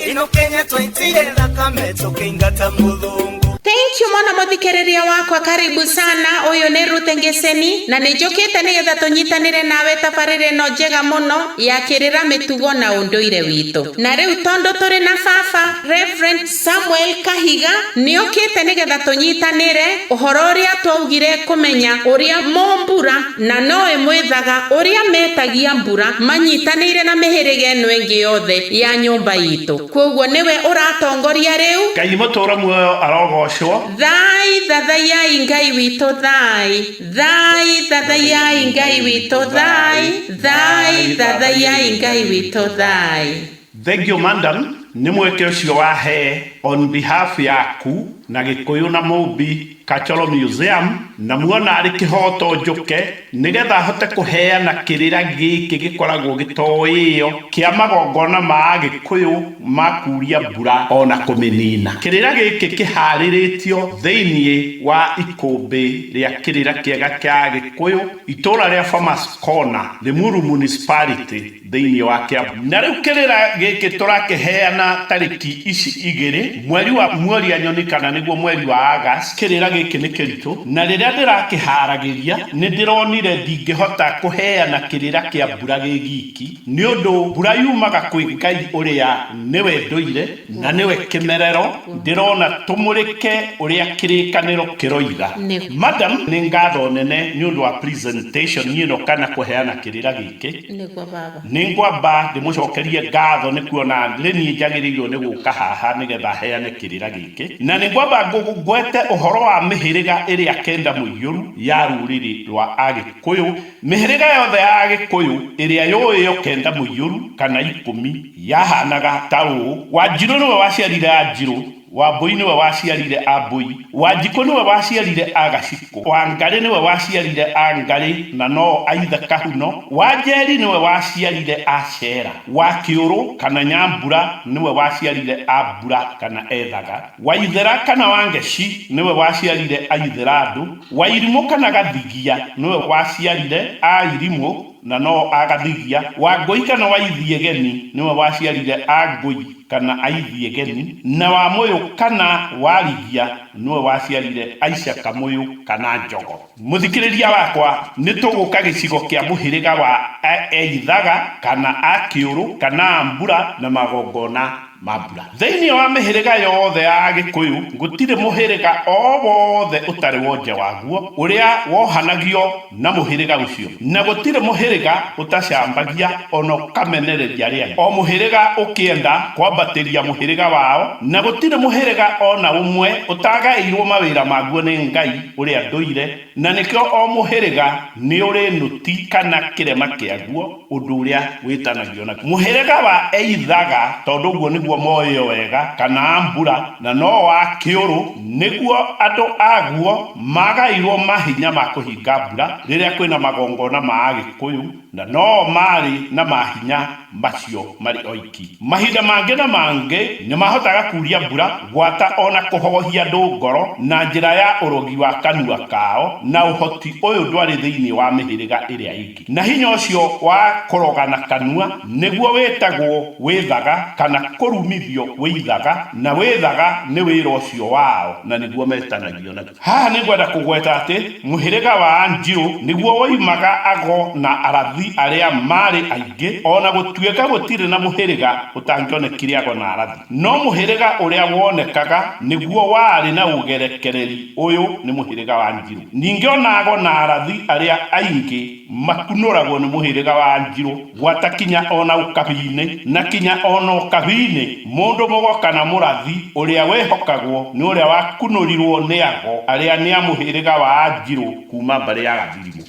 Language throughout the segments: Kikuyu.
ino kenya twaitire thakame tũkĩingata mũthũngũ thank you mũno mũthikĩrĩria wakwa karibu sana ũyũ nĩ rute ngeseni na nĩ njũkĩte nĩgetha tũnyitanĩre nawe tabarĩra ĩno njega mũno ya kĩrĩra mĩtugo na ũndũire witũ na rĩu tondũ tũrĩ na baba reverend Samuel Kahiga, Nĩokĩte nĩgetha tũnyitanĩre ũhoro ũrĩa twaugire kũmenya ũrĩa mombura na noe mwĩthaga ũrĩa metagia mbura manyitanĩire na mĩhĩrĩga ĩno ĩngĩ yothe ya nyũmba itũ. Kwoguo nĩwe ũratongoria rĩu. Ngai mũtũũro muoyo arogoocwo. Thaai thathaiai Ngai witũ thaai Thaai thathaiai Ngai witũ thaai Thaai thathaiai Ngai witũ thaai. Thengio Madam nĩ mweke ũcio wahe on behalf yaku na Gĩkũyũ na Mũmbi Cultural Museum na muona arĩ kĩhoto njũke nĩgetha hote kũheana kĩrĩra gĩkĩ gĩkoragwo gĩtoĩo kĩa magongona ma Agĩkũyũ ma kuuria mbura ona kũmĩnina. Kĩrĩra gĩkĩ kĩharĩrĩtio thĩiniĩ wa ikũmbĩ rĩa kĩrĩra kĩega kĩa Agĩkũyũ, itũra rĩa Farmers Corner, Limuru Municipality. thĩinĩ wa Kiambu. Na rĩu kĩrĩra gĩkĩ tũrakĩheana tarĩki ici igĩrĩ, mweri wa Muoria Nyoni kana nĩguo mweri wa August, kĩrĩra gĩkĩ nĩ kĩritũ, na rĩrĩa ndĩrakĩharagĩria nĩ ndĩronire ndingĩhota kũheana kĩrĩra kĩa mbura gĩ giki, nĩ ũndũ mbura yumaga kwĩ Ngai ũrĩa nĩwe ndũire na nĩwe kĩmerero, ndĩrona tũmũrĩke ũrĩa kĩrĩkanĩro kĩroiga. Madam, nĩ ngatho nene nĩ ũndũ wa presentation ĩno kana kũheana kĩrĩra gĩkĩ. Nĩkĩ? Nĩguo Baba. Nĩ ngwamba ndĩmũcokerie ngatho nĩ kuona nĩ niĩ njagĩrĩirwo nĩ gũka haha nĩ getha heane kĩrĩra gĩkĩ. Na nĩ ngwamba ngwete ũhoro wa mĩhĩrĩga ĩrĩa kenda mũiyũru ya rũrĩrĩ rwa Agĩkũyũ. Mĩhĩrĩga yothe ya Agĩkũyũ ĩrĩa yũĩ yo kenda mũiyũru kana ikũmi yahanaga ta ũũ, Wanjirũ nĩwe waciarire Anjirũ, Wambũi nĩwe waciarire a Mbũi. Wanjikũ nĩwe waciarire a Gacikũ. Wangarĩ nĩwe waciarire a Ngarĩ na no-o aithe Kahuno. Wanjeri nĩwe waciarire a Cera. Wakĩũrũ kana Nyambura nĩwe waciarire a Mbura kana Ethaga. Waithera kana Wangeci nĩwe waciarire a Itherandũ. Wairimũ kana Gathigia nĩwe waciarire a Irimũ. Na no agathigia. Wangũi kana Waithiegeni nĩwe waciarire Angũi kana Aithiegeni, na Wamũyũ kana Warigia nĩwe waciarire Aica Kamũyũ kana Njogo. Mũthikĩrĩria wakwa, nĩ tũgũka gĩcigo kĩa mũhĩrĩga wa Aeithaga kana Akĩũrũ kana Ambura na magongona. Mambura. Thĩinĩ wa mĩhĩrĩga yothe ya Agĩkũyũ, gũtirĩ mũhĩrĩga o wothe ũtarĩ wonje waguo ũrĩa wohanagio na mũhĩrĩga ũcio, na gũtirĩ mũhĩrĩga ũtacambagia o na ũkamenereria rĩayo. O mũhĩrĩga ũkĩenda kwambatĩria mũhĩrĩga wao, na gũtirĩ mũhĩrĩga o na ũmwe ũtagaĩirwo mawĩra maguo nĩ Ngai ũrĩa ndũire. Na nĩkĩo o mũhĩrĩga nĩũrĩ nũti kana kĩrema kĩaguo, ũndũ ũrĩa wĩtanagio naguo. Mũhĩrĩga wa Eithaga, tondũ ũguo nĩguo moĩo wega, kana Ambura, na no wa Kĩũrũ, nĩguo andũ aguo magaĩirwo mahinya ma kũhinga mbura rĩrĩa kwĩna magongona ma Agĩkũyũ Na no maarĩ na mahinya macio marĩ oiki. Mahinda mangĩ na mangĩ nĩ maahotaga kuuria mbura, gwata, o na kũhoohia andũ ngoro na njĩra ya ũrogi wa kanua kao, na ũhoti ũyũ ndwarĩ thĩinĩ wa mĩhĩrĩga ĩrĩa ĩngĩ. Na hinya ũcio wa kũroga na kanua nĩguo wĩtagwo wĩthaga, kana kũrumithio wĩithaga, na wĩthaga nĩ wĩra ũcio wao na nĩguo metanagio naguo. Haha nĩ ngwenda kũgweta atĩ mũhĩrĩga wa Anjirũ nĩguo woimaga ago na arathi arĩa maarĩ aingĩ, o na gũtuĩka gũtirĩ na mũhĩrĩga ũtangĩonekire ago na arathi. No mũhĩrĩga ũrĩa wonekaga nĩguo warĩ na ũgerekereri ũyũ nĩ mũhĩrĩga wa Anjirũ. Ningĩ o na ago na arathi arĩa aingĩ. Makunũragwo nĩ mũhĩrĩga wa Njirũ gwata kinya o na ũkabi-inĩ, na kinya o na ũkabi-inĩ mũndũ mũgoka na mũrathi ũrĩa wĩhokagwo nĩ ũrĩa wakunũrirwo nĩ ago arĩa nĩ a mũhĩrĩga wa Njirũ kuma mbarĩ ya Gathirimũ.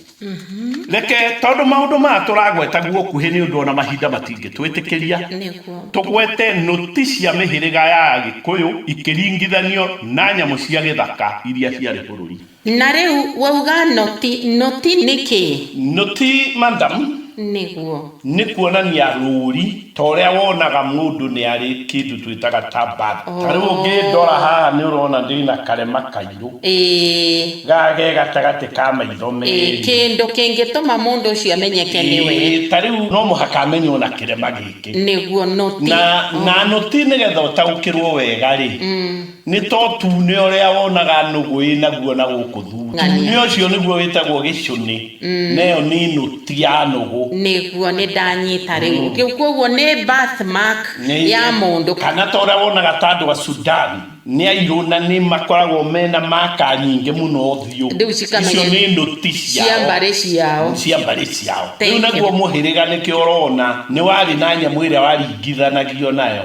Reke, tondũ maũndũ maya tũragweta guokuhĩ nĩ ũndũ o na mahinda matingĩtwĩtĩkĩria, tũgwete nũti cia mĩhĩrĩga ya Agĩkũyũ ikĩringithanio na nyamũ cia gĩthaka iria ciarĩ bũrũri. Na rĩu wauga noti, noti nĩ kĩĩ? Noti, madam, Nĩguo. nĩ kuonania rũũri, ta ũrĩa wonaga mũndũ nĩ arĩ kĩndũ twĩtaga ta bag. Ta rĩu ũngĩndora haha nĩ ũrona ndĩ na karema kairũ. Ĩĩ. Ga ge gatagatĩ ka maitho Ĩĩ, merĩ. kĩndũ kĩngĩtũma mũndũ ũcio amenyeke nĩwe. Ĩĩ, ta rĩu no mũhaka amenywo na kĩrema gĩkĩ. Nĩguo, noti. Na, na noti nĩgetha ũtaũkĩrwo wega-rĩ, Nĩ ta ũtune ũrĩa wonaga nũgũ ĩ naguo na gũkũ thutha. Ũtune ũcio nĩguo wĩtagwo gĩcũnĩ, nayo nĩ nũti ya nũgũ. Nĩguo, nĩ ndanyita rĩu. Kwoguo nĩ birth mark ya mũndũ. Kana ta ũrĩa wonaga ta andũ a Sudan nĩ airũ na nĩ makoragwo mena marker nyingĩ mũno ũthiũ. Icio nĩ nũti ciao, cia mbarĩ ciao. Rĩu naguo mũhĩrĩga nĩkĩo ũrona nĩ warĩ na nyamũ ĩrĩa waringithanagio nayo.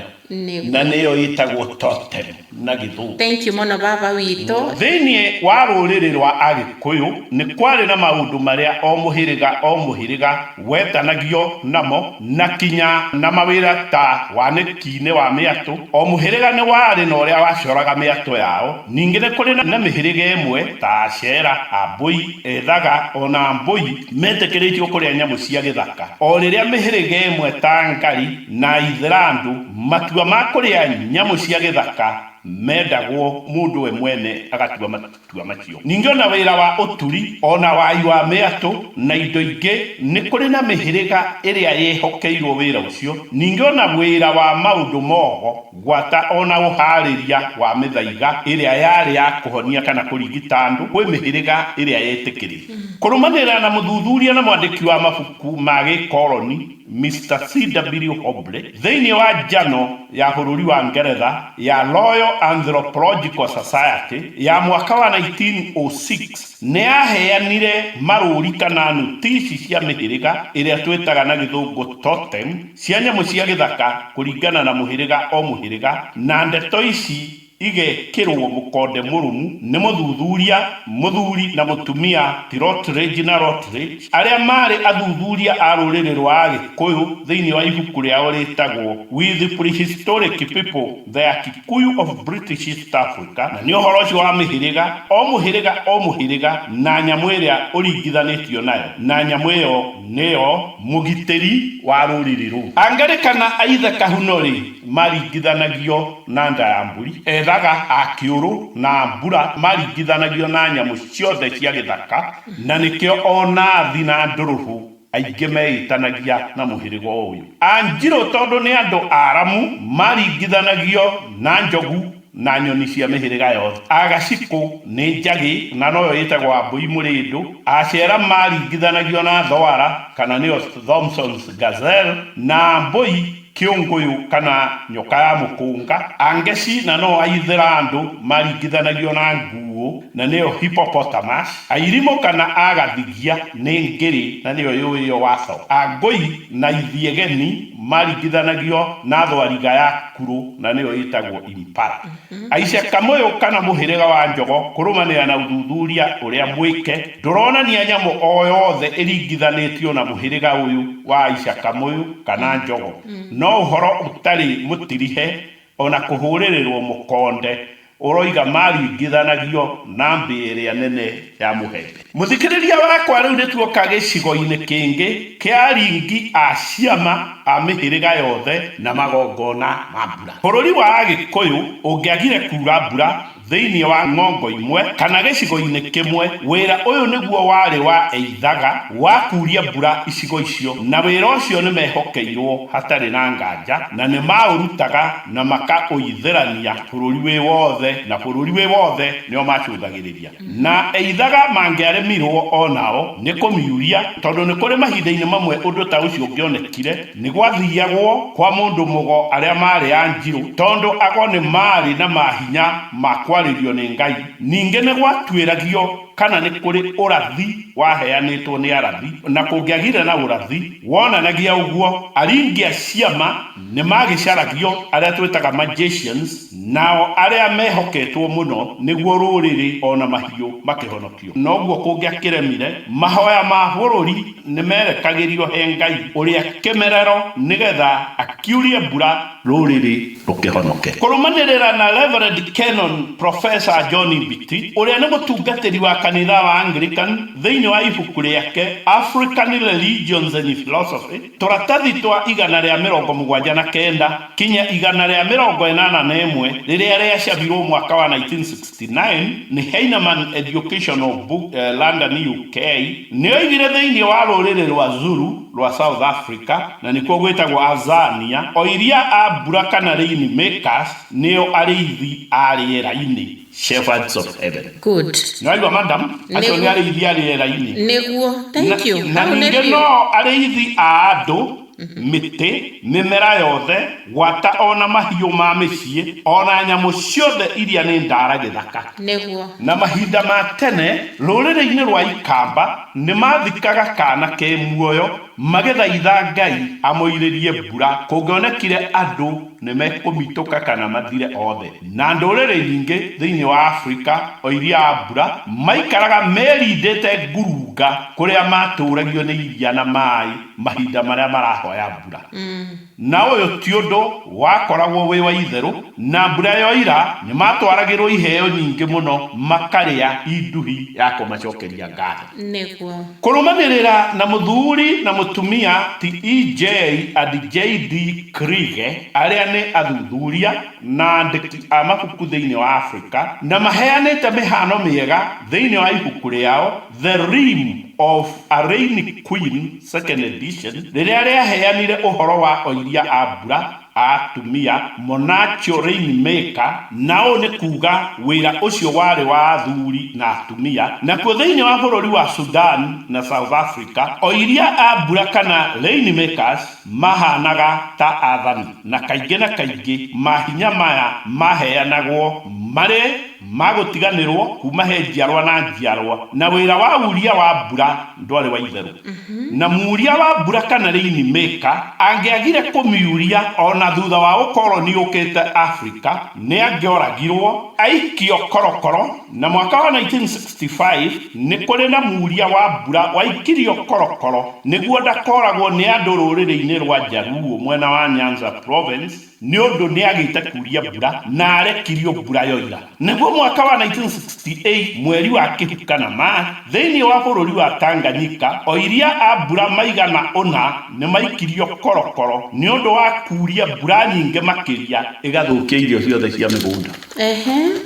Na nĩyo ĩtagwo totem na Gĩthũngũ. Thank you mũno baba witũ. Thĩinĩ wa rũrĩrĩ rwa Agĩkũyũ nĩ kwarĩ na maũndũ marĩa o mũhĩrĩga o mũhĩrĩga wetanagio namo na kinya na mawĩra ta wanĩki-inĩ wa mĩatũ. O mũhĩrĩga nĩ warĩ na ũrĩa wacoraga mĩatũ yao. Ningĩ nĩ kũrĩ na mĩhĩrĩga ĩmwe ta Acera, Ambũi, Ethaga, o na Ambũi metĩkĩrĩtio kũrĩa nyamũ cia gĩthaka, o rĩrĩa mĩhĩrĩga ĩmwe ta Ngari, Na Aithĩrandu, matua ma kũrĩa nyamũ cia gĩthaka mendagwo mũndũ we mwene agatua matua macio. Ningĩ o na wĩra wa ũturi, o na wai wa mĩatũ, na indo ingĩ, nĩ kũrĩ na mĩhĩrĩga ĩrĩa yehokeirwo wĩra ũcio, ningĩ o na wĩra wa maũndũ mogo gwata o na ũharĩria wa mĩthaiga ĩrĩa yarĩ ya kũhonia kana kũrigita andũ kwĩ mĩhĩrĩga ĩrĩa yetĩkĩrĩtio. Kũrũmanĩrĩra na mũthuthuria na mwandĩki wa mabuku ma gĩkoroni, Mister CW Hobley, thĩinĩ wa njano ya bũrũri wa Ngeretha ya Royal Anthropological Society ya mwaka wa 1906, nĩ aaheanire marũũri kana nũtici cia mĩhĩrĩga ĩrĩa twĩtaga na Gĩthũngũ totem cia nyamũ cia gĩthaka kũringana na mũhĩrĩga o mũhĩrĩga, na ndeto ici igekĩrũo mũkonde mũrũmu nĩ mũthuthuria, mũthuri na mũtumia ti Rotridge na Rotridge, arĩa maarĩ athuthuria a rũrĩrĩ rwa Agĩkũyũ thĩinĩ wa ibuku rĩao rĩtagwo With Prehistoric People, Their Kikuyu of British East Africa, na nĩ ũhoro ũcio wa mĩhĩrĩga, o mũhĩrĩga o mũhĩrĩga, na nyamũ ĩrĩa ũringithanĩtio nayo, na nyamũ ĩyo nĩyo mũgitĩri wa rũrĩrĩ rũu. A Ngarĩ kana a Ithe Kahuno-rĩ, maringithanagio na nda ya mbũri, ethaga a kĩũrũ na mbura maringithanagio na nyamũ ciothe cia gĩthaka, na nĩkĩo o nathi na ndũrũhũ aingĩ meĩtanagia na mũhĩrĩga o ũyũ. Anjirũ tondũ nĩ andũ aramu maringithanagio na njogu na nyoni cia mĩhĩrĩga yothe. Agacikũ nĩ njagĩ na noyo ĩtagwo ambũi mũrĩndũ. Acera maringithanagio na thwara kana nĩyo Thomson's gazelle na mbũi. Kĩũngũyũ kana nyoka ya mũkũnga. Angeci na no Aithĩrandũ maringithanagio na nguũ na nĩyo hippopotamus. Airimũ kana Agathigia nĩ ngĩrĩ na nĩyo yũĩyo waco. Angũi na Ithiegeni maringithanagio na thwariga ya kurũ na nĩyo ĩtagwo impala. Aica kamũyũka na mũhĩrĩga wa njogo kũrũmanĩrĩra na ũthuthuria ũrĩa mwĩke ndũronania nyamũ o yothe ĩringithanĩtio na mũhĩrĩga ũyũ wa aica kamũyũ kana njogo, no ũhoro ũtarĩ mũtirihe o na kũhũrĩrĩrwo mũkonde ũroiga maringithanagio na mbĩa ĩrĩa nene ya mũhembe. Mũthikĩrĩria wakwa rĩu nĩtuoka gĩcigo-inĩ kĩngĩ kĩa aringi a ciama a mĩhĩrĩga yothe na magongona ma mbura. Bũrũri wa Agĩkũyũ ũngĩagire kuura mbura thĩinĩ wa ng'ongo imwe kana gĩcigo-inĩ kĩmwe, wĩra ũyũ nĩguo warĩ wa eithaga wa kuuria mbura icigo icio, na wĩra ũcio nĩmehokeirwo hatarĩ na nganja, na nĩmaũrutaga na makaũithĩrania bũrũri wĩ wothe, na bũrũri wĩ wothe nĩo macũthagĩrĩria. Na eithaga mangĩaremirũo o nao nĩ kũmiuria, tondũ nĩ kũrĩ mahinda-inĩ mamwe ũndũ ta ũcio ũngĩonekire, nĩ gwathiagwo kwa mũndũ mũgo arĩa maarĩ Anjirũ, tondũ ago nĩ maarĩ na maahinya ma kwarĩrio nĩ Ngai, ningĩ nĩ gwatuĩragio kana nĩ kũrĩ ũrathi waheanĩtwo nĩ arathi, na kũngĩagire na ũrathi wonanagia ũguo, aringi a ciama nĩ maagĩcaragio, arĩa twĩtaga magicians, Nao arĩa mehoketwo mũno nĩguo rũrĩrĩ o na mahiũ makĩhonokio. Noguo kũngĩakĩremire, mahoya ma bũrũri nĩmerekagĩrio he Ngai ũrĩa kĩmerero nĩgetha akiurie mbura rũrĩrĩ rũkĩhonoke. Kũrũmanĩrĩra na Reverend Canon Professor John Mbiti, ũrĩa nĩ mũtungatĩri wa kanitha wa Anglican, thĩinĩ wa ibuku rĩake African Religions and Philosophy, Tũratathi twa igana rĩa mĩrongo mũgwanja na kenda kinya igana rĩa mĩrongo ĩnana na ĩmwe rĩrĩa rĩacabirwo mwaka wa 1969 nĩ Heinemann Educational Book, London, UK, nĩoigire thĩinĩ wa rũrĩrĩ rwa Zulu rwa South Africa, na nĩkuo gwĩtagwo Azania, oiria a mbura kana rain makers nĩo arĩithi a rĩera-inĩ. Shepherds of Heaven. Good. Nĩ waigua madam? Acio Nĩguo. nĩ arĩithi a rĩera-inĩ. Nĩguo. Thank you. Na, na Hau nĩ ningĩ biũ. no arĩithi a andũ, mĩtĩ, mĩmera yothe, gwata o na mahiũ ma mĩciĩ, o na nyamũ ciothe iria nĩ ndaara gĩthaka. Nĩguo. Na mahinda ma tene, rũrĩrĩ-inĩ rwa Ikamba, nĩ maathikaga kaana ke muoyo, Magĩthaitha Ngai amoirĩrie mbura, kũngĩonekire andũ nĩ mekũmitũka kana mathire othe. Na ndũrĩrĩ nyingĩ thĩinĩ wa Afrika, o iria a mbura, maikaraga merindĩte ngurunga kũrĩa matũũragio nĩ iria na maĩ mahinda marĩa marahoya mbura. Na ũyũ ti ũndũ wakoragwo wĩ wa itherũ, na mbura yoira nĩ maatwaragĩrũo iheo nyingĩ mũno makarĩa i nduhi ya kũmacokeria ngatho. Nĩguo. Kũrũmanĩrĩra na mũthuri na mũtumia ti EJ and JD Kriege, arĩa nĩ athuthuria na andĩki a mabuku thĩinĩ wa Afrika, na maheanĩte mĩhaano mĩega thĩinĩ wa ibuku rĩao, The Reign of a Reign Queen, Second Edition, rĩrĩa rĩaheanire ũhoro wa oiria a mbura a atumia, monachio reign maker, na ũũ nĩ kuuga wĩra ũcio warĩ wa athuri na atumia. Nakuo thĩinĩ wa bũrũri wa Sudan na South Africa, oiria a mbura kana reign makers maahaanaga ta athani, na kaingĩ na kaingĩ mahinya maya maaheanagwo marĩ. ma gũtiganĩrwo kuuma he njiarwa na njiarwa, na wĩra wa uria wa mbura ndwarĩ wa itherũ, na muria wa mbura kana rain maker angĩagire kũmiuria o na thutha wa ũkoroni ũkĩte Afrika, nĩ angĩoragirwo, aikio korokoro, na mwaka wa 1965 nĩ kũrĩ na muria wa mbura waikirio korokoro nĩguo ndakoragwo nĩ andũ rũrĩrĩ-inĩ rwa Jaluo mwena wa Nyanza Province, Nĩ ũndũ nĩagĩte kuria mbura, na arekirio mbura yoira. Naguo mwaka wa 1968, mweri wa Kĩhuka na Maa, thĩinĩ wa bũrũri wa Tanganyika, oiria a mbura maigana ũna nĩmaikirio korokoro nĩ ũndũ wa kuria mbura nyingĩ makĩria ĩgathũkia irio ciothe cia mĩgũnda.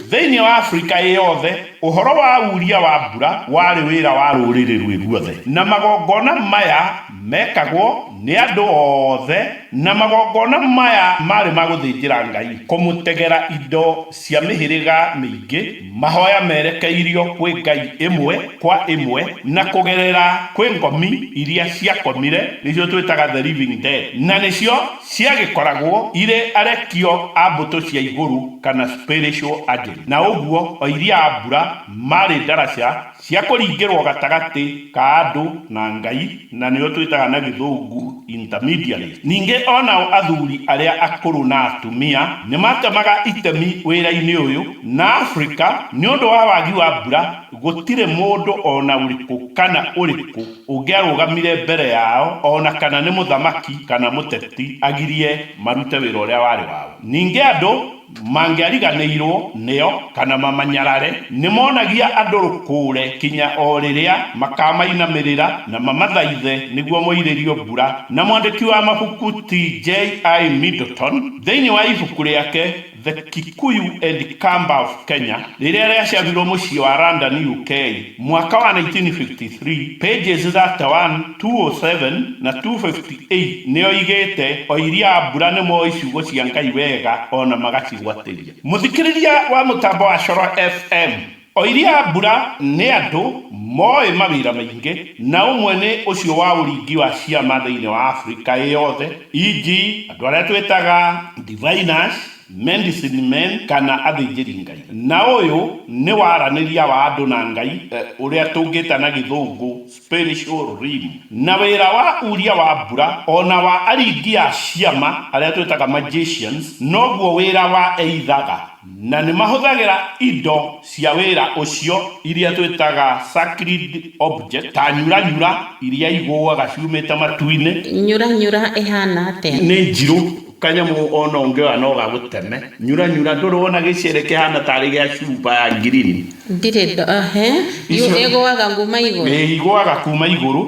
Thĩinĩ wa Afrika ĩ yothe, ũhoro wa uria wa mbura warĩ wĩra wa rũrĩrĩ rwĩ ruothe, na magongona maya Meekagwo nĩ andũ othe, na magongona maya maarĩ ma gũthĩnjĩra Ngai, kũmũtegera indo cia mĩhĩrĩga mĩingĩ, mahooya merekeirio kwĩ ngai ĩmwe kwa ĩmwe, na kũgerera kwĩ ngomi iria ciakomire, nĩcio twĩtaga the living dead, na nĩcio ciagĩkoragwo irĩ arekio a mbũtũ cia igũrũ, kana spiritual agents, na ũguo oiria a mbura maarĩ ndaraca Cia kũringĩrwo gatagatĩ ka andũ na Ngai, na nĩo twĩtaga na Gĩthũngũ intermediaries. Ningĩ o nao athuri arĩa akũrũ na atumia nĩ matemaga itemi wĩra-inĩ ũyũ, na Afrika, nĩ ũndũ wa wagi wa mbura, gũtirĩ mũndũ o na ũrĩkũ kana ũrĩkũ ũngĩarũgamire mbere yao, o na kana nĩ mũthamaki kana mũteti, agirie marute wĩra ũrĩa warĩ wao. Ningĩ andũ mangĩariganĩirũo nĩo kana mamanyarare, nĩ monagia andũ rũkũũre kinya o rĩrĩa makaamainamĩrĩra na mamathaithe nĩguo moirĩrio mbura. Na mwandĩki wa mabuku T. J. I. Middleton, thĩinĩ wa ibuku rĩake The Kikuyu and Kamba of Kenya, rĩrĩa rĩacabirũo mũciĩ wa London, UK. mwaka wa 1953, pages 31, 207, na 258, Ii, nĩ oigĩte, Oiri a mbura nĩ moĩ ciugo cia Ngai wega o na magacigwatĩria. Mũthikĩrĩria wa mũtambo wa Coro FM, oiri a mbura nĩ andũ moĩ mawĩra maingĩ, na ũmwe nĩ ũcio wa ũringi wa ciama thĩinĩ wa Afrika ĩ yothe, e.g. andũ arĩa twĩtaga diviners, medicine men, kana athĩnjĩri Ngai. Na ũyũ nĩ waranĩria wa andũ na Ngai, ũrĩa tũngĩta na Gĩthũngũ spiritual. spiritual realm, na wĩra wa uria wa mbura, o na wa aringi a ciama arĩa twĩtaga magicians, noguo wĩra wa eithaga, na nĩ mahũthagĩra indo cia wĩra ũcio iria twĩtaga sacred objects, ta nyuranyura iria igũaga ciumĩte matu-inĩ. Nyuranyura ĩhaana atĩa? Nĩ njirũ. Kanyamũ ona ũngĩoya no gagũteme. Nyura nyura ndũrĩ wona gĩcere kĩhana tarĩ gĩa cuba ya green. Ndirĩ ndona he. Yu ĩgũaga nguma igũrũ. Ĩĩ igũaga kuma igũrũ.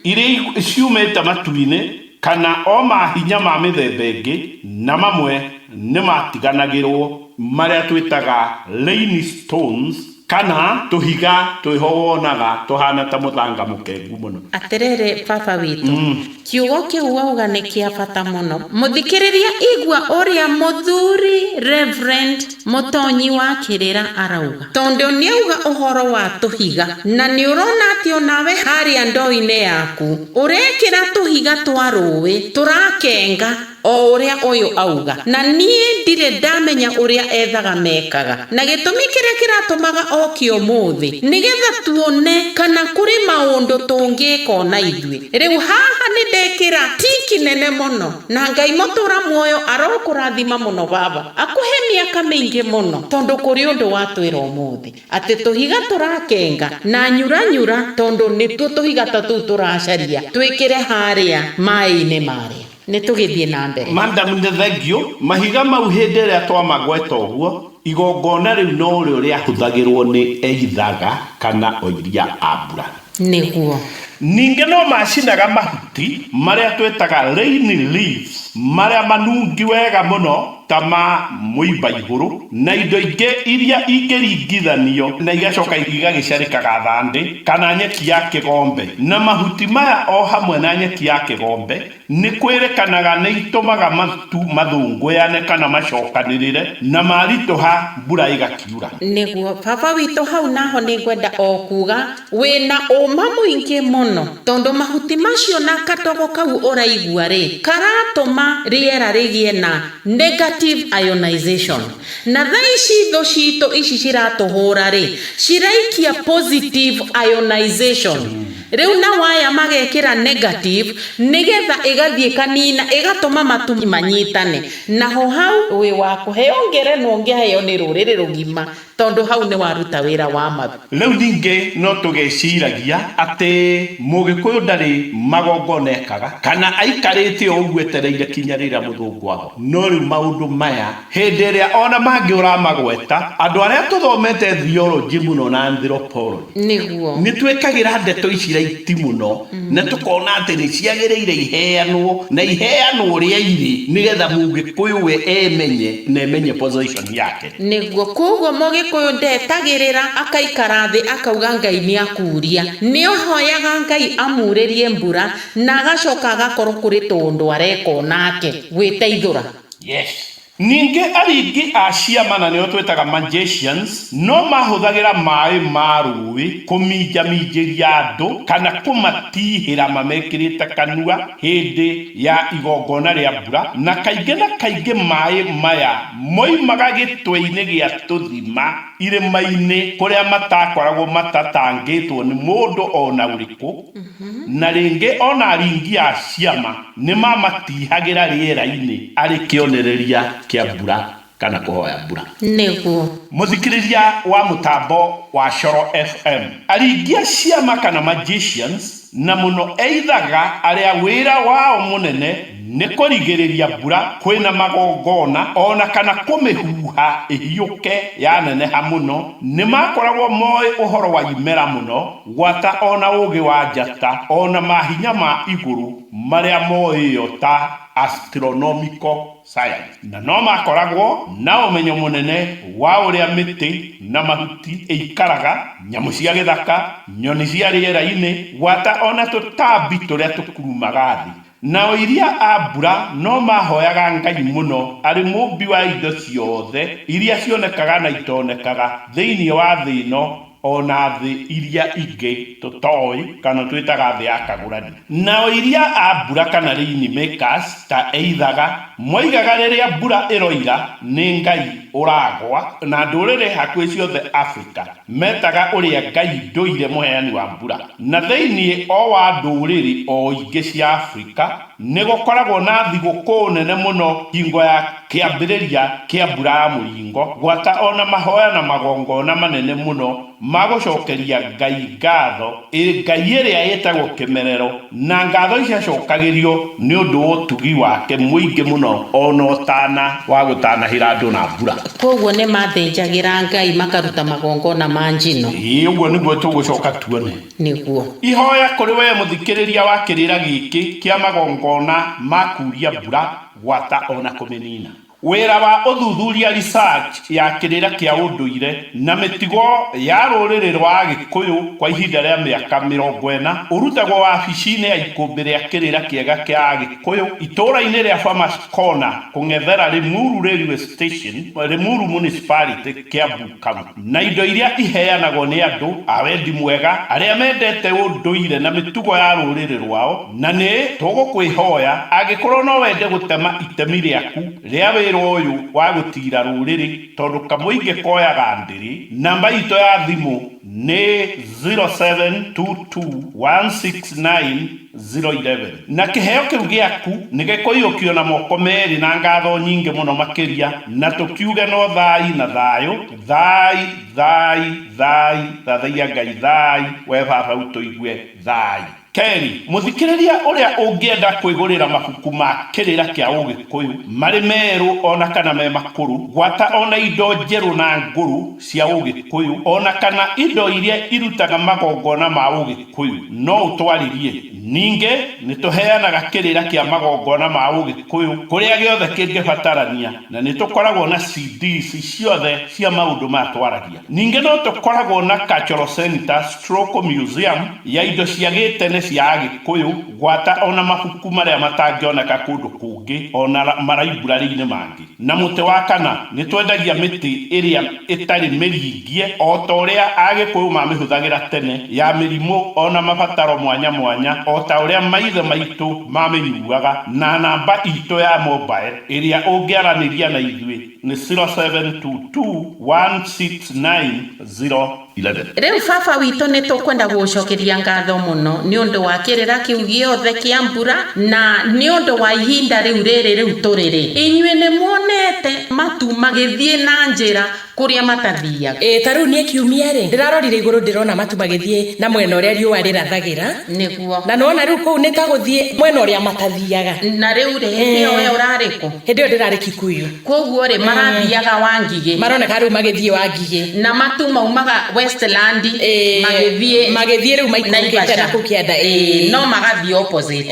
Iria ciumĩte matu-inĩ kana o mahinya ma mĩthemba ĩngĩ na mamwe nĩmatiganagĩrwo. Marĩa twĩtaga rain stones. Kana tũhiga twĩho wonaga tũhaana ta mũthanga mũkengu mũno? Atĩrĩrĩ, Baba witũ, kiugo kĩu wauga nĩ kĩa bata mũno. Mũthikĩrĩria igua ũrĩa Mũthuri Rev. Mũtonyi wa Kĩrĩra arauga. Tondũ nĩauga ũhoro wa tũhiga. Na nĩũrona atĩ o nawe harĩa ndoo-inĩ yaku, ũrekĩra tũhiga twa rũĩ, tũrakenga. o ũrĩa ũyũ auga, na niĩ ndirĩ ndamenya ũrĩa ethaga mekaga, na gĩtũmi kĩrĩa kĩratũmaga oke ũmũthĩ, nĩgetha tuone kana kũrĩ maũndũ tũngĩka o na ithuĩ. Rĩu haha nĩ ndekĩra tiki nene mũno, na Ngai mũtũra muoyo arokũrathima mũno baba, akũhe mĩaka mĩingĩ mũno, tondũ kũrĩ ũndũ watwĩra ũmũthĩ, atĩ tũhiga tũrakenga na nyura nyura, tondũ nĩtuo tũhiga ta tũu tũracaria twĩkĩre harĩa maĩ-inĩ marĩa. Nĩ tũgĩthiĩ na mbere. Madam nĩ thengiũ, mahiga mau hĩndĩ ĩrĩa twamagweta ũguo, igongona rĩu no rĩo rĩahũthagĩrũo nĩ eithaga kana oiria a mbura. Nĩguo. Ningĩ no maacinaga mahuti marĩa twĩtaga rain leaves, marĩa manungi wega mũno. ta ma mũimbaihũrũ, na indo ingĩ iria ingĩringithanio na igacoka igagĩcarĩkaga thandĩ, kana nyeki ya kĩgombe, na mahuti maya o hamwe na nyeki ya kĩgombe, nĩ kwĩrĩkanaga nĩ itũmaga matu mathũngũyane kana macokanĩrĩre, na maritũha mbura ĩgakiura. Nĩguo. Baba witũ hau naho nĩ ngwenda o kuuga. Wĩ na ũũma mũingĩ mũno, tondũ mahuti macio na katogo kau ũraigua-rĩ, karatũma rĩera rĩgĩe na negative ionization. Na thaa ici thũ citũ ici ciratũhũra-rĩ, ciraikia positive ionization. Rĩu nao aya magekĩra negative, nĩgetha ĩgathiĩ ĩkanina, ĩgatũma matu manyitane. Naho hau wĩ wa kũheo ngerenwa ũngĩaheo nĩ rũrĩrĩ rũgima. Tondũ hau nĩ waruta wĩra wa ma. Rĩu ningĩ no tũgeciragia atĩ Mũgĩkũyũ ndarĩ magongona ekaga, kana aikarĩte o ũguo etereire kinya rĩrĩa Mũthũngũ ago. No rĩu maũndũ maya, hĩndĩ ĩrĩa o na mangĩ ũramagweta, andũ arĩa tũthomete theology mũno na anthropology, Nĩguo. nĩ twĩkagĩra ndeto ici raiti mũno na tũkona atĩ nĩ ciagĩrĩire iheanwo na iheanwo ũrĩa irĩ nĩgetha Mũgĩkũyũ we emenye na emenye position yake. Nĩguo. Kwoguo Mũgĩkũyũ ndetagĩrĩra, akaikara thĩ akauga Ngai nĩ akuuria. Nĩ ahoyaga Ngai amuurĩrie mbura na agacoka agakorwo kũrĩ tũũndũ areka o nake. Gwĩteithũra. Yes. Ningĩ aringi a ciama na nĩo twĩtaga magicians no mahũthagĩra maĩ ma rũũĩ kũminjaminjĩria andũ kana kũmatihĩra mamekĩrĩte kanua hĩndĩ ya igongona rĩa mbura, na kaingĩ na kaingĩ maĩ maya. Moimaga gĩtweinĩ gĩa tũthima irĩmainĩ kũrĩa matakoragwo matatangĩtwo nĩ mũndũ o na ũrĩkũ, na rĩngĩ o na aringi a ciama nĩmamatihagĩra rĩerainĩ arĩ kĩonereria kĩa mbura kana kũhoya mbura. Nĩguo. Mũthikĩrĩria wa mũtambo wa Coro FM, aringi a ciama kana magicians na mũno eithaga arĩa wĩra wao mũnene nĩ kũrigĩrĩria mbura kwĩna magongona o na kana kũmĩhuha ĩhiũke yaneneha mũno, nĩ maakoragwo moĩ ũhoro wa imera mũno gwata o na ũũgĩ wa njata o na mahinya ma igũrũ marĩa moĩo ta astronomical sayansi, na no maakoragwo na ũmenyo mũnene wa ũrĩa mĩtĩ na mahuti ĩikaraga, nyamũ cia gĩthaka, nyoni cia rĩera-inĩ, gwata o na tũtambi tũrĩa tũkurumaga thĩ. Nao iria a mbura no maahoyaga Ngai mũno arĩ Mũũmbi wa indo ciothe iria cionekaga na itonekaga thĩinĩ wa thĩ ĩno, o na thĩ iria ingĩ tũtoĩ kana twĩtaga thĩ ya kagũrani, nao iria a mbura kana rain makers ta eithaga, moigaga rĩrĩa mbura ĩroira nĩ Ngai ũragwa, na ndũrĩrĩ hakuhĩ ciothe Afrika metaga ũrĩa Ngai ndũire mũheani wa mbura, na thĩinĩ o wa ndũrĩrĩ o ingĩ cia Afrika Nĩ gũkoragwo na thigũkũ nene mũno hingo ya kĩambĩrĩria kĩa Mbura ya Mũringo, gwata o na mahoya na magongona manene mũno ma gũcokeria Ngai ngatho, ĩ ngai ĩrĩa ĩtagwo Kĩmerero, na ngatho ici ciacokagĩrio nĩ ũndũ wa ũtugi wake mũingĩ mũno o na ũtana wa gũtanahĩra andũ na mbura. Kwoguo nĩ maathĩnjagĩra Ngai makaruta magongona ma njino. Ĩ ũguo nĩguo tũgũcoka tuone. nĩguo. Ihoya kũrĩ wee mũthikĩrĩria wa kĩrĩra gĩkĩ kĩa magongona ma kuuria mbura, gwata o na kũmĩnina. Wĩra wa ũthuthuria, research, ya kĩrĩra kĩa ũndũire na mĩtugo ya rũrĩrĩ rwa Agĩkũyũ kwa ihinda rĩa mĩaka mĩrongo ĩna ũrutagwo wabici-inĩ ya ikũmbĩ rĩa kĩrĩra kĩega kĩa Agĩkũyũ itũũra-inĩ rĩa Farmers Corner kũng'ethera Limuru Railway Station, Limuru Municipality, Kiambu County. na indo iria iheanagwo nĩ andũ a wendi mwega arĩa mendete ũndũire na mĩtugo ya rũrĩrĩ rwao, na nĩ tũgũkwĩhoya angĩkorũo no wende gũtema itemi rĩaku rĩa wĩra ũyũ wa gũtiira rũrĩrĩ tondũ kamũingĩ koyaga ndĩrĩ. Namba itũ ya thimũ nĩ 0722 169. 0:11, Na kĩheo kĩu gĩaku nĩgĩkũiyũkio na moko merĩ na ngatho nyingĩ mũno makĩria, na tũkiuge no thaai na thaayũ, thaai, thaai, thaai, thathaiya Ngai, thaai, wee Baba ũtũigue, thaai. Kerĩ, mũthikĩrĩria ũrĩa ũngĩenda kwĩgũrĩra mabuku ma Kĩrĩra kĩa Ũgĩkũyũ, marĩ merũ o na kana me makũrũ, gwata o na indo njerũ na ngũrũ cia Ũgĩkũyũ, o na kana indo iria irutaga magongona ma Ũgĩkũyũ, Kikuyu no ũtwarĩrie. Ningĩ nĩ tũheanaga kĩrĩra kĩa magongona ma Ũgĩkũyũ kũrĩa gĩothe kĩngĩbatarania, na nĩ tũkoragwo na CDs ciothe cia maũndũ maya twaragia. Ningĩ no tũkoragwo na Cultural Centre stroke Museum ya indo cia gĩtene cia Agĩkũyũ, gwata o na mabuku marĩa matangĩoneka kũndũ kũngĩ o na maraiburarĩ-inĩ mangĩ. Na mũtĩ wa kana, nĩ twendagia mĩtĩ ĩrĩa ĩtarĩ mĩringie o ta ũrĩa Agĩkũyũ mamĩhũthagĩra tene, ya mĩrimũ o na mabataro mwanya mwanya o ta ũrĩa maithe maitũ mamĩnyuaga, na namba itũ ya mobile ĩrĩa ũngĩaranĩria na ithuĩ nĩ 0722 169 0. 11. Rĩu Baba witũ nĩ tũkwenda gũgũcokeria ngatho mũno nĩ ũndũ wa kĩrĩra kĩu gĩothe kĩa mbura, na nĩ ũndũ wa ihinda rĩu rĩrĩ rĩu tũrĩrĩ. Inyuĩ nĩ muonete matu magĩthiĩ na njĩra kũrĩa matathiaga. Ĩ ta rĩu niĩ kiumia-rĩ, ndĩrarorire igũrũ ndĩrona matu magĩthiĩ na mwena ũrĩa riũa rĩrathagĩra. Nĩguo. Na nĩwona rĩu kũu nĩ ta gũthiĩ mwena ũrĩa matathiaga. Na rĩu-rĩ, hĩndĩ ĩyo wee ũrarĩ kũ? Hĩndĩ ĩyo ndĩrarĩ Kikuyu. Kwoguo-rĩ, marathiaga Wangigĩ. Maroneka rĩu magĩthiĩ Wangigĩ. Na matu maumaga Westland magĩthiĩ. Magĩthiĩ rĩu maikũrũkĩte na kũu kĩanda. Ĩĩ. No magathiĩ opposite.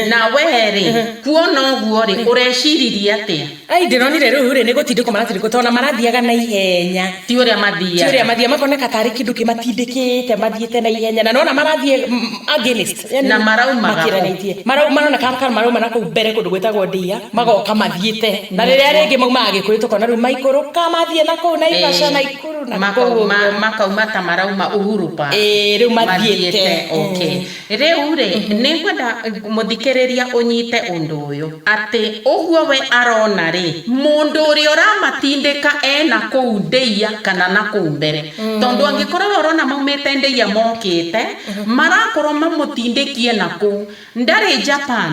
Na wee-rĩ, kuona ũguo-rĩ, ũreciririe atĩa? Ai, ndĩronire rĩu-rĩ, nĩ gũtindĩkwo maratindĩkwo tondũ ona marathiaga na ihenya. Ti ũrĩa mathiaga. Ti ũrĩa mathiaga. Makoneka tarĩ kĩndũ kĩmatindĩkĩte mathiĩte na ihenya. Na nĩwona marathiĩ against. yani na maraumaga makiranitie maraumana na kana marauma na kuu mbere kundu gwitagwo ndia magoka mathiite na riria ringi maumaga gikuyu tukona riu maikuruka mathie na kuu na ivasha na ikuru na kuu makauma ta marauma uhuru pa eh riu mathiite okay riu ri ningwenda muthikiriria unyite undu uyu ati uguo we arona ri mundu uria uramatindika ena kuu ndia kana na kuu mbere tondu angikorwo we urona maumite ndia mokite Marakorwo mamũtindĩkie nakũu. Ndarĩ Japan.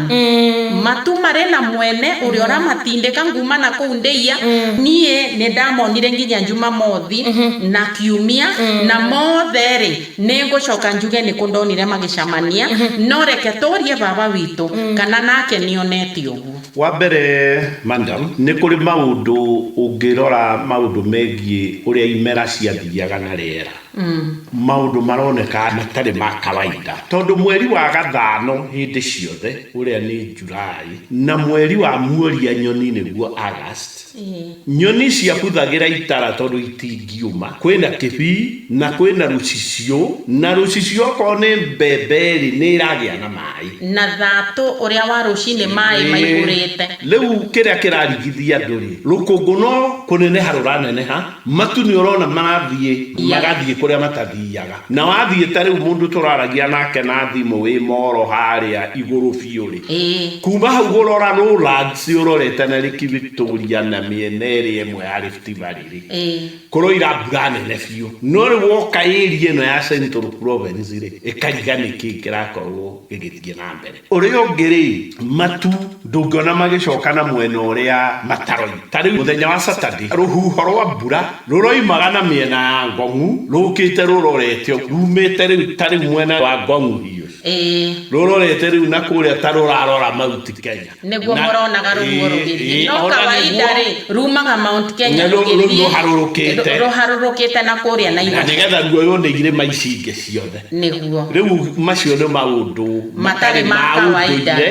Matu marĩ na mwene ũrĩa ũramatindĩka nguma nakũu Ndeia. Niĩ nĩ ndamonire nginya Jumamothi na Kiumia, na mothe rĩ, nĩ ngũcoka njuge nĩ kũ ndonire magĩcamania, no reke tũrie Baba witũ kana nake nĩ onete ũguo. Wa mbere, Madam, nĩ kũrĩ maũndũ ũngĩrora maũndũ megiĩ ũrĩa imera ciathiaga na rĩera. Maũndũ maroneka matarĩ ma kawaida tondũ mweri wa gathaano hĩndĩ ciothe ũrĩa nĩ July na mweri wa muoria nyoni nĩguo August, nyoni ciabuthagĩra itara tondũ itingĩũma, kwĩna kĩbii na kwĩna rũcicio na rũcicio okorwo nĩ mbembe rĩ nĩ ĩragĩa na maĩ. Na thatũ ũrĩa wa rũcinĩ maĩ maihũrĩte. Rĩu kĩrĩa kĩrarigithia andũ rĩ, rũkũngũ no kũneneha rũraneneha Matu nĩũrona marathiĩ magathiĩ kũrĩa matathiaga. Na wathiĩ ta rĩu mũndũ tũraragia nake na thimũ wĩ mall harĩa igũrũ biũ rĩ, kuma hau gũrora Rolands ũrorete na Lake Victoria na mĩena ĩrĩa ĩmwe ya Rift Valley rĩ, kũroira mbura nene biũ. No rĩu woka area ĩno ya Central Province rĩ, ĩkariga nĩkĩĩ kĩrakorwo gĩgĩthiĩ na mbere. Ũrĩa ũngĩ-rĩ, matu ndũngĩona magĩcoka na mwena ũrĩa mataroima. Ta rĩu mũthenya wa Saturday, rũhuho rwa mbura rũroimaga na mĩena ya Ngong'u rũkĩte rũrorete ũguo, rumĩte rĩu ta rĩu mwena wa Ngong'u Hills, rũrorete rĩu na kũrĩa ta rũrarora Mount Kenya. Nĩguo mũronaga rũhuho rũgĩthiĩ. No kawaida-rĩ, rumaga Mount Kenya rũgĩthiĩ rũharũrũkĩte na kũrĩa Naivasha. Na nĩgetha ruoywo nĩ irĩma ici ingĩ ciothe. nĩguo. Rĩu macio nĩ maũndũ matarĩ ma ũndũire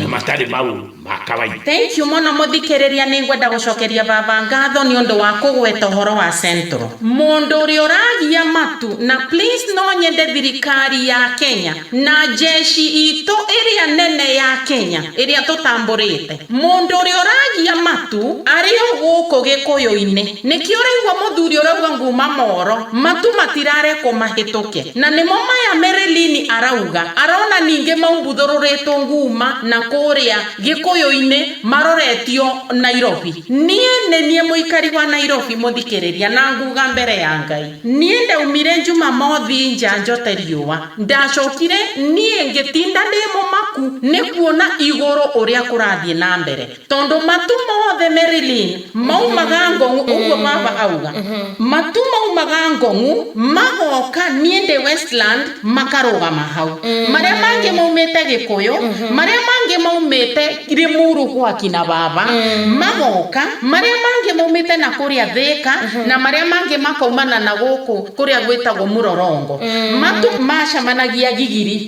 na matarĩ maũndũ ma kawaida. Thank you mũno mũthikĩrĩria nĩngwenda gũcokeria baba ngatho nĩ ũndũ wa kũgweta ũhoro wa central. Mũndũ ũrĩa ũragia matu na please no nyende thirikari ya Kenya na njeshi itũ ĩrĩa nene ya Kenya ĩrĩa tũtambũrĩte. Mũndũ ũrĩa ũragia matu arĩ o gũkũ gĩkũyũ-inĩ. Nĩkĩ ũraigua mũthuri ũrauga nguma moro, matu matirarekwo mahĩtũke. Na nĩmo maya Merelini arauga, arona ningĩ mau mbuthũrũrĩtwo nguma na kũũrĩa Gĩkũyũ-inĩ maroretio Nairobi. Niĩ nĩ niĩ mũikari wa Nairobi mũthikĩrĩria na nguga mbere ya Ngai. Niĩ ndaumire Njumamothi nja njote riũa. Ndacokire niĩ ngĩtinda ndĩ mũmaku nĩ kuona igũrũ ũrĩa kũrathiĩ na mbere. Tondũ matu mothe Marilyn maumaga Ngong'u, ũguo baba auga. Matu maumaga Ngong'u magoka niĩ ndĩ Westland makarũgama hau. Marĩa mangĩ maumĩte Gĩkũyũ, marĩa mangĩ maumĩte Limuru gwa kina baba magoka, marĩa mangĩ maumĩte na kũrĩa Thĩka na marĩa mangĩ makaumana na gũkũ kũrĩa gwĩtagwo Mũrorongo. Matu macemanagia Gigiri.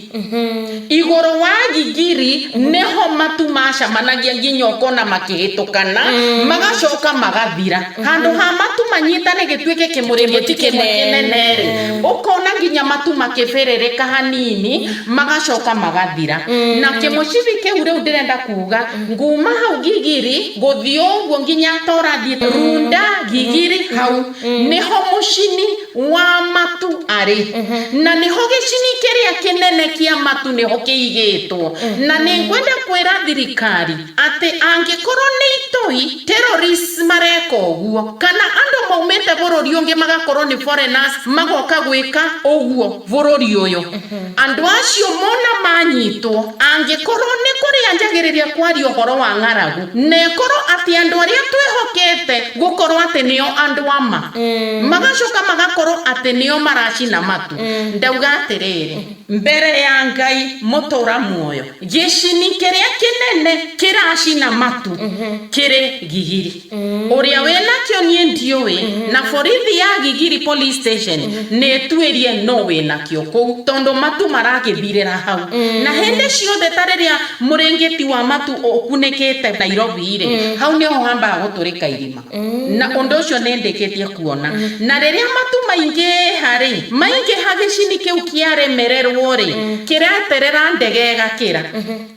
Igũrũ wa ngigiri nĩho matu macemanagia nginya ũkona makĩhĩtũkana, magacoka magathira. Handũ ha matu manyitane gĩtuĩke kĩmũrĩmo kĩmwe kĩnene rĩ, ũkona nginya matu makĩbĩrĩrĩka hanini, magacoka magathira. Na kĩmũcibi kĩu rĩu ndĩrenda kuuga, nguma hau ngigiri, gũthiĩ ũguo nginya ta ũrathiĩ Runda, ngigiri, hau, nĩho mũcini. Wa matu arĩ, na nĩho gĩcini kĩrĩa kĩnene kĩa matu nĩho kĩigĩtwo. Na nĩ ngwenda kwĩra thirikari atĩ angĩkorwo nĩ itoi, terrorists, mareka ũguo, kana andũ maumĩte bũrũri ũngĩ magakorwo nĩ foreigners magoka gwĩka ũguo bũrũri ũyũ, Andũ acio mona manyitwo, angĩkorũo nĩ kũrĩa njagĩrĩria kwaria ũhoro wa ng'aragu, na ĩkorũo atĩ andũ arĩa twĩhokete gũkorũo atĩ nĩo andũ a ma, magacoka magakorũo atĩ nĩo maracina matũ, ndauga atĩrĩrĩ. Mbere ya Ngai mũtũũra muoyo, gĩcini kĩrĩa kĩnene kĩracina matũ kĩrĩ gigiri. Ũrĩa wĩnakĩo niĩ ndiũĩ, na borithi ya Gigiri Police Station nĩĩtuĩrie nũ wĩnakĩo kũu tondũ matu maragĩthirĩra hau. Na hĩndĩ ciothe ta rĩrĩa mũrĩngĩti wa matu ũkunĩkĩte Nairobi-rĩ, hau nĩho hambaga gũtũrĩka irima. Na ũndũ ũcio nĩndĩkĩtie kuona. Na rĩrĩa matu maingĩha-rĩ, maingĩha gĩcini kĩu kĩaremererwo-rĩ, kĩreterera ndege ĩgakĩra.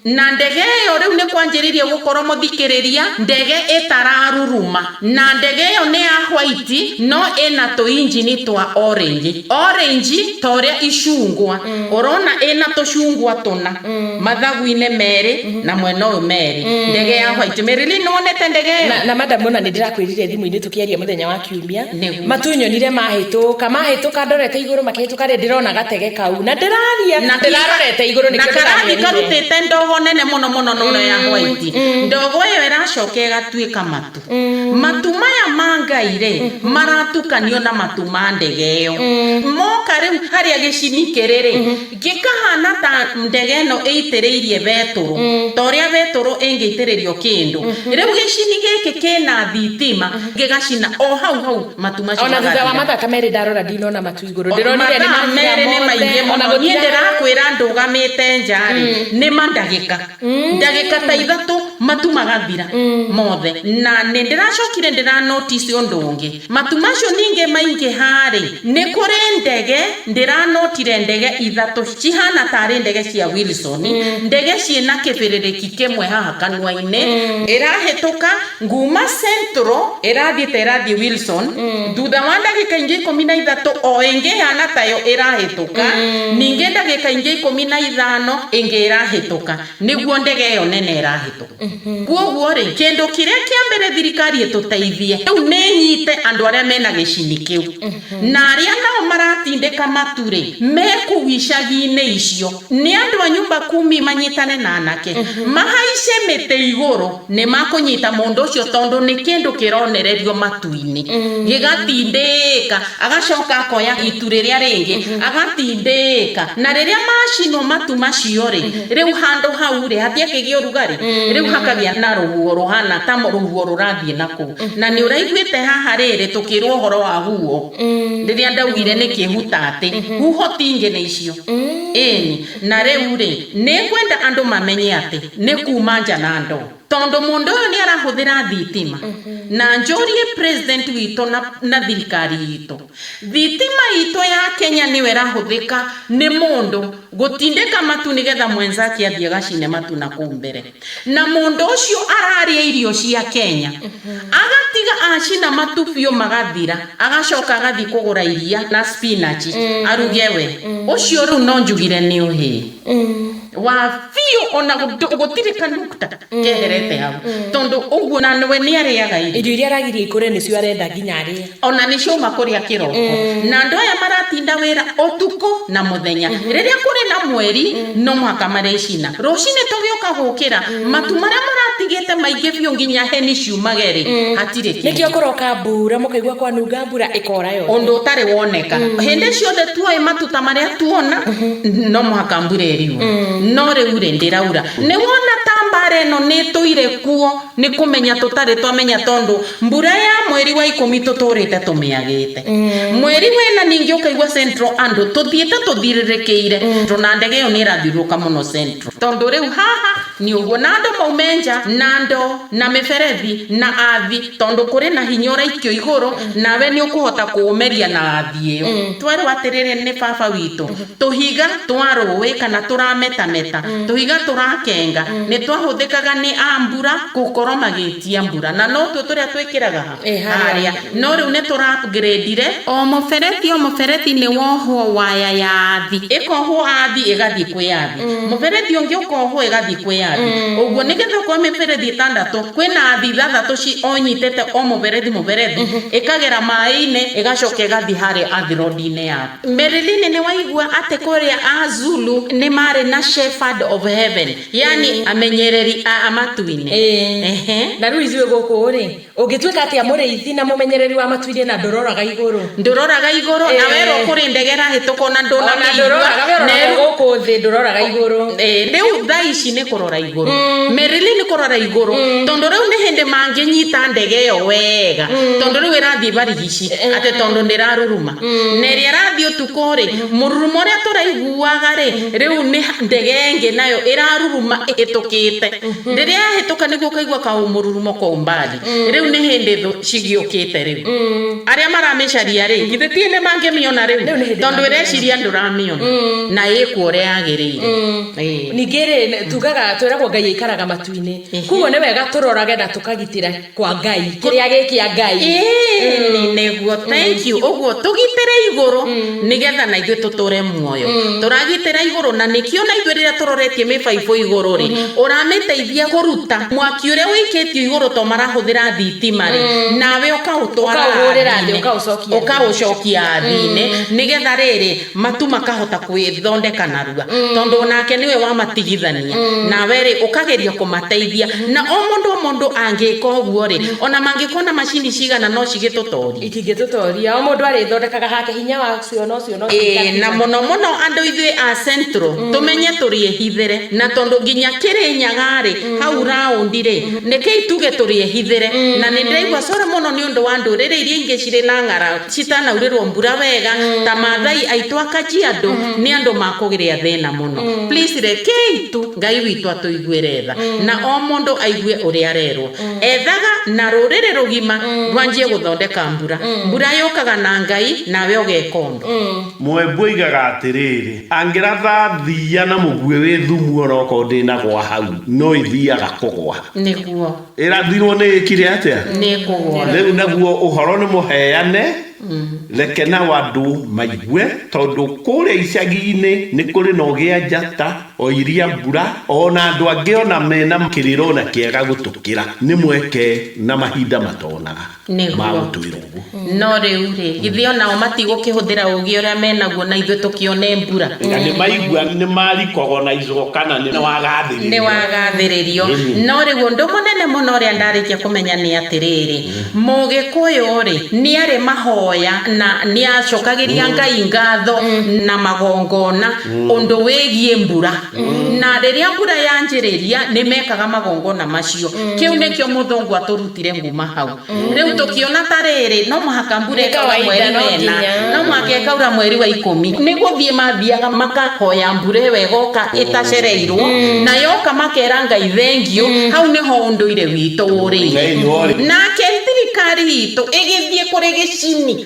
Na ndege ĩyo rĩu nĩ kwanjĩrĩirie gũkorũo mũthikĩrĩria, ndege ĩtararuruma. Na ndege ĩyo nĩ ya hwaiti, no ĩna tũinjini twa orange. Orange ta ũrĩa icungwa. Ũrona ĩna tũcungwa tũna, mathagu-inĩ merĩ, na mwena ũyũ merĩ. Ndege ya hwaiti. Marilyn, nĩ wonete ndege ĩyo? Na, na madam, o na nĩ ndĩrakwĩrire thimũ-inĩ tũkĩaria mũthenya wa Kiumia. Matũnyonire mahĩtũka, mahĩtũka ndorete igũrũ makĩhĩtũka rĩ, ndĩrona gatege kau, na ndĩraria, na ndĩrarorete igũrũ nĩkĩo ndĩramĩonire. Na karathi karutĩte ndogo nene mũno mũno na ũrĩa ya white. Ndogo ĩyo ĩracoka ĩgatuĩka matu. Matu maya ma Ngai rĩ, maratukanio na matu ma ndege ĩyo. Moka rĩu harĩa gĩcini kĩrĩ rĩ, Gĩkahaana ta ndege ĩno ĩitĩrĩirie betũrũ, ta ũrĩa betũrũ ĩngĩitĩrĩrio kĩndũ. Rĩu gĩcini gĩkĩ kĩna thitima, gĩgacina o hau hau matu macio magathira. O na thutha wa mathaa ta merĩ ndarora ndinona matu igũrũ. Ndĩronire nĩ mathira mothe. Mathaa merĩ nĩ maingĩ mũno. Niĩ ndĩrakwĩra ndũgamĩte nja rĩ, nĩ ma ndagĩka. Ndagĩka ta ithatũ matu magathira mothe. Na nĩ ndĩracokire ndĩra notice ũndũ ũngĩ. Matu macio ningĩ maingĩha-rĩ, nĩ kũrĩ ndege ndĩranotire ndege ithatũ cihana tarĩ ndege cia Wilson, ndege ciĩ na kĩbĩrĩrĩki kĩmwe haha kanua-inĩ, ĩrahĩtũka nguma Central ĩrathiĩ ta ĩrathiĩ Wilson, thutha wa ndagĩka ingĩ ikũmi na ithatũ o ĩngĩ ĩhana tayo ĩrahĩtũka, ningĩ ndagĩka ingĩ ikũmi na ithano ĩngĩ ĩrahĩtũka, nĩguo ndege ĩyo nene ĩrahĩtũka. Kwoguo rĩ, kĩndũ kĩrĩa kĩa mbere thirikari ĩtũteithie, rĩu nĩ ĩnyite andũ arĩa mena gĩcini kĩu. Na arĩa nao maratindĩka matu rĩ, me kũu icagi-inĩ icio, nĩ andũ a nyumba kumi manyitane na anake, mahaice mĩtĩ igũrũ, nĩ makũnyita mũndũ ũcio tondũ nĩ kĩndũ kĩronererio matu-inĩ, gĩgatindĩka. Agacoka akoya itu rĩrĩa rĩngĩ, agatindĩĩka. Na rĩrĩa macinwo matu macio-rĩ, rĩu handũ hau-rĩ, hatiakĩgĩa ũrugarĩ, rĩu hakagĩa na rũhuho rũhana ta rũhuho rũrathiĩ na kũu. Na nĩ ũraiguĩte haha rĩrĩ tũkĩrwo ũhoro wa huho, rĩrĩa ndaugire nĩ kĩhuta atĩ, huho ti ingĩ nĩ icio. Ĩĩni. Na rĩu-rĩ, nĩ ngwenda andũ mamenye atĩ, nĩ kuuma nja na ndoo. Tondũ mũndũ ũyũ nĩ arahũthĩra thitima, na njũrie president witũ na, na thirikari itũ, thitima itũ ya Kenya nĩyo ĩrahũthĩka nĩ mũndũ gũtindĩka matu nĩgetha mwenzake athiĩ agacine matu na kũu mbere. Na mũndũ ũcio ararĩa irio cia Kenya, agatiga acina matu biũ magathira, agacoka agathiĩ kũgũra iria na spinach aruge we. Ũcio rĩu no njugire nĩ ũhĩĩ. Wa biũ o na gũtirĩ kanukta keherete hau, tondũ ũguo na we nĩ arĩaga irio. Irio iria aragiria ikũre nĩcio arenda nginya arĩe. O na nĩ ciauma kũrĩa kĩroko. Na andũ aya maratinda wĩra ũtukũ na mũthenya. Rĩrĩa kũrĩ na mweri, no mũhaka marĩcina. Rũcinĩ tũgĩũka gũkĩra, matu marĩa mũratigĩte maingĩ biũ nginya heni ciumage-rĩ, hatirĩ kĩndũ. Nĩkĩo kũroka mbura, mũkaigua kwanunga mbura. mbura ĩkoora yothe. Ũndũ ũtarĩ woneka. Hĩndĩ ciothe tuoĩ matuta marĩa tuona no mũhaka mbura ĩriurwo. No rĩu rĩ ndĩraura. Nĩ wona ta mbara ĩno nĩ ĩtũire kuo nĩ kũmenya tũtarĩ twamenya tondũ mbura ya mweri wa ikũmi tũtũrĩte tũmĩagĩte. Mweri wa ĩna ningĩ ũkaigua Central andũ tũthiĩte tũthirĩrĩkĩire tondũ na ndege ĩyo nĩ ĩrathiũrũrũka mũno Central. Tondũ rĩu haha nĩ ũguo na andũ maume nja na ndoo na mĩberethi na athi. Tondũ kũrĩ na hinya ũraikio igũrũ, nawe nĩ ũkũhota kũũmeria na thĩ ĩyo. Twerwo atĩrĩrĩ nĩ Baba witũ, tũhiga twa rũĩ kana tũrametameta, tũhiga tũrakenga, nĩ twahũthĩkaga nĩ a mbura gũkorwo magĩtia mbura. Na no tuo tũrĩa twĩkĩraga ha? Ĩ, harĩa. Harĩa. No rĩu nĩ tũra upgrade-re. O mũberethi o mũberethi nĩ wohwo waya ya thĩ. Ĩkohwo a thĩ ĩgathiĩ kwĩ a thĩ. Mũberethi ũngĩ ũkohwo ĩgathiĩ kwĩ a thĩ. Ũguo nĩgetha okorwo mĩberethi ĩtandatũ, kwĩna thĩ ithathatũ onyitĩte o mũberethi mũberethi, ĩkagera maĩ-inĩ, ĩgacoka ĩgathiĩ harĩa earth road-inĩ yake. Marilyn nĩ waigua atĩ kũrĩa Azulu nĩ marĩ na shepherd of heaven, yaani amenyereri a matu-inĩ? Ĩĩ. Na rĩu ithuĩ gũkũ-rĩ, ũngĩtuĩka atĩa mũrĩithi na mũmenyereri wa matu-inĩ na ndũroraga igũrũ? Ndũroraga igũrũ na werwo kũrĩ ndege ĩrahĩtũka ona ndũnamĩigua. Ona ndũroraga we ũroraga gũkũ thĩ ndũroraga igũrũ. Rĩu thaa ici nĩ kũrora igũrũ. Merely nĩ kũrora igũrũ. Tondũ rĩu nĩ hĩndĩ mangĩnyita ndege ĩyo wega. Tondũ rĩu ĩrathiĩ barigici. Atĩ tondũ ndĩraruruma. Na ĩrĩa ĩrathiĩ ũtukũ rĩ, mũrurumo ũrĩa tũraiguaga rĩ, rĩu nĩ ndege ĩngĩ nayo ĩraruruma ĩhĩtũkĩte. Rĩrĩa yahĩtũka nĩguo ũkaigua kaũmũrurumo kũu mbali. Rĩu nĩ hĩndĩ thũ cigĩũkĩte rĩu. Arĩa maramĩcaria-rĩ, githĩ ti hĩndĩ mangĩmĩona rĩu? Tondũ ĩreciria ndũramĩona, na ĩkuo ũrĩa yagĩrĩire. Ningĩ-rĩ, tugaga, twĩragwo Ngai aikaraga matu-inĩ. Kuoguo nĩ wega tũrorage na tũkagitĩra kwa Ngai, kĩrĩa gĩ kĩa Ngai. Ĩĩni nĩguo, thank you, ũguo, tũgitĩre igũrũ. nĩ getha na ithuĩ tũtũre muoyo tũragitĩra igũrũ na nĩkĩo na ithuĩ rĩrĩa tũroretie mĩbaibũ igũrũ rĩ ũramĩteithia kũruta mwaki ũrĩa wĩikĩtio igũrũ to marahũthĩra thitima rĩ nawe ũkaũtwara Ũkaũhũrĩra thĩ, thĩ-inĩ, ũkaũcokia thĩ. ũkaũcokia thĩ-inĩ nĩ getha rĩrĩ matu makahota gwĩthondeka narua tondũ onake nĩwe wamatigithania nawe rĩ ũkageria kũmateithia na o mũndũ o mũndũ angĩka ũguo rĩ ona mangĩkorwo na macini cigana no cigĩtũtorie. Itingĩtũtoria. O mũndũ arĩthondekaga hake hinya wa cio no cio no cio Ĩĩ, na itakinya. mũno mũno andũ ithuĩ a Central tũmenye tũrĩehithĩre na tondũ nginya Kĩrĩnyaga-rĩ hau round-rĩ rekei tuge tũrĩehithĩre na nĩ ndĩraigua sorry mũno nĩ ũndũ wa ndũrĩrĩ iria ingĩ cirĩ na ng'aragu citanaurĩrwo mbura wega ta Maathai aitũ a Kajiado nĩ andũ makũgĩa thĩna mũno. Please rekei tu Ngai witũ atũiguĩre tha na o mũndũ aigue ũrĩa arerwo. Ethaga na rũrĩrĩ rũgima rwanjie gũthondeka mbura. Mbura yũkaga na Ngai, nawe ũgeeka ũndũ. Mũembu oigaga atĩrĩrĩ, Angĩratha thiiya na mũguĩ wĩ thumu o na okorwo ndĩnagũa hau, no ĩthiiaga kũgũa. Nĩguo. Ĩrathirwo nĩ ĩkire atĩa? Nĩ kũgũa. Rĩu naguo ũhoro nĩ mũheane, reke nao andũ maigue, tondũ kũũrĩa icagi-inĩ nĩ kũrĩ na ũgĩa njata. O iria mbura. O na andũ angĩ o na me na. Kĩrĩro na kĩega gũtũkĩra. Nĩ mweke na mahinda matonaga. Nĩguo. Ma gũtwĩra ũguo. No rĩu-rĩ, githĩ o nao matigũkĩhũthĩra ũũgĩ ũrĩa me naguo na ithuĩ tũkĩone mbura? Na nĩ maigua nĩ marikagwo na icoka na nĩ. Wagathĩrĩrio. Nĩ wagathĩrĩrio. Ĩni. No rĩu ũndũ mũnene mũno ũrĩa ndarĩkia kũmenya nĩ atĩrĩrĩ, Mũgĩkũyũ-rĩ, nĩarĩ mahoya na nĩacokagĩria Ngai ngatho na magongona. ũndũ wĩgiĩ mbura na rĩrĩa mbura yanjĩrĩria nĩ mekaga magongona macio kĩu nĩkĩo mũthũngũ atũrutire nguma hau rĩu tũkĩona ta rĩrĩ no mũhaka mbura Nĩ ĩkaura kawaida, mweri no wena nginya. no mũhaka ĩkaura mweri wa ikũmi nĩ gũthiĩ mathiaga makahoya mbura ĩyo ĩgoka ĩtacereirwo na yoka makera Ngai thengiũ hau nĩho ũndũire witũ ũrĩire Thĩinĩ wa ũrĩ- nake thirikari itũ ĩgĩthiĩ kũrĩ gĩcini